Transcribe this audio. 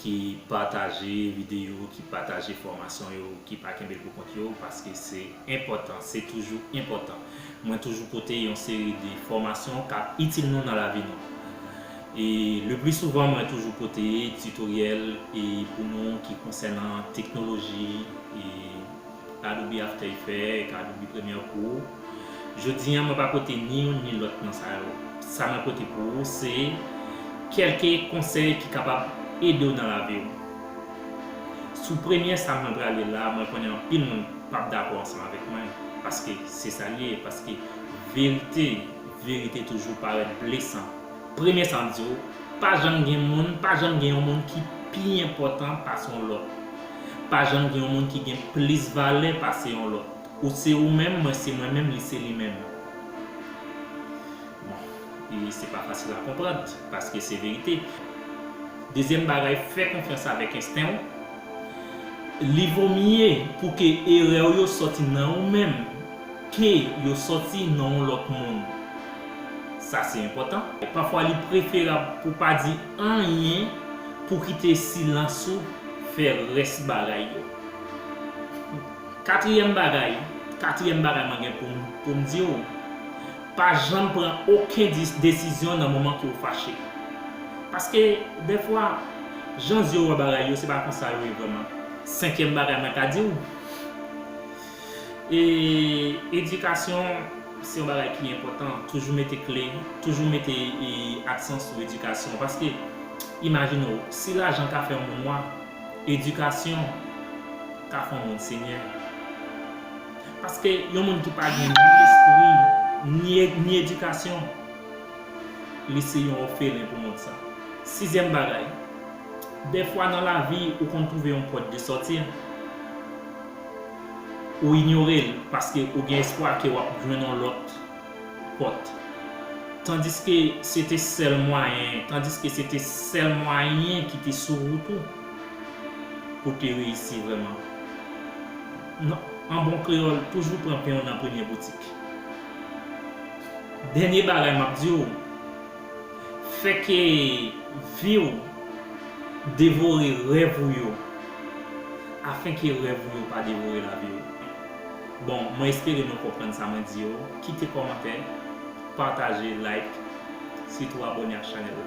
ki pataje videyo, ki pataje fòmasyon yo, ki pa kenbe l pou kont yo, paske se enpòtan, se toujou enpòtan. Mwen toujou pote yon seri de fòmasyon k ap itil nou nan lavi nou. E le pli souvan mwen toujou pote titoryèl e pou nou ki konsènan teknoloji e. Kadou bi after efè, kadou bi premyè kou. Jodi an mwen pa pote ni youn ni lòt nan sa yo. Sa mwen pote pou ou se kèlke konsèy ki kapab ede w nan lavi w. Sou premyè sa mwen prale la mwen konnen anpil moun pap dakò ansanm avèk mwen paske se sa l ye paske verite verite toujou parèt blesan. Premye sa m di w, pa janm gen moun, pa janm gen yon moun ki pi enpòtan pase yon lòt. Pa janm gen yon moun ki gen plis valè pase yon lòt. Ou se ou menm, mwen se mwen menm, li se li menm. Bon, e se pa fasil a konprann, paske se verite. Dezyèm bagay, fè konfyans avèk ensten w. Li vo mye pou ke erè w yo sòti nan ou menm. Ke yo sòti nan yon lòt moun. Sa se enpòtan. Pafwa li preferab pou pa di anyen pou kite silans ou fè rès bagay yo. Katriyèm bagay, katriyèm bagay mwen gen pou m di w, pa janm pran oken desizyon nan moman ke w fache. Paske dèfwa, jan zye w wè bagay yo se pa konsa yo ye vrèman. Senkyèm bagay mwen ka di w. E edikasyon se yon bagay ki enpòtan, toujou mete kle, toujou mete aksan sou edikasyon paske imajine w, si lajan ka fè yon moun nwa, edikasyon ka fè yon moun senyè. Paske yon moun ki pa gen ni lespri, ni edikasyon, li se yon òfelen pou mond sa. Sizyèm bagay, dèfwa nan lavi ou konn twouve yon pòt de sòti. Ou inyore l paske ou gen espwa ke w ap jwenn yon lòt pòt. Tandiske se te sèl mwayen, tandiske se te sèl mwayen ki te sou wout ou pou w te reyisi vrèman. Non, an bon kreyòl, toujou pran pen w nan premye boutik. Dènye bagay m ap di w. Fè ke vi w devore rèv ou yo afen ke rèv ou yo pa devore lavi w. Bon, mwen espere nou konprann sa mwen di yo. Kite kòmantè, pataje, like, sitou abòne ak chanèl la.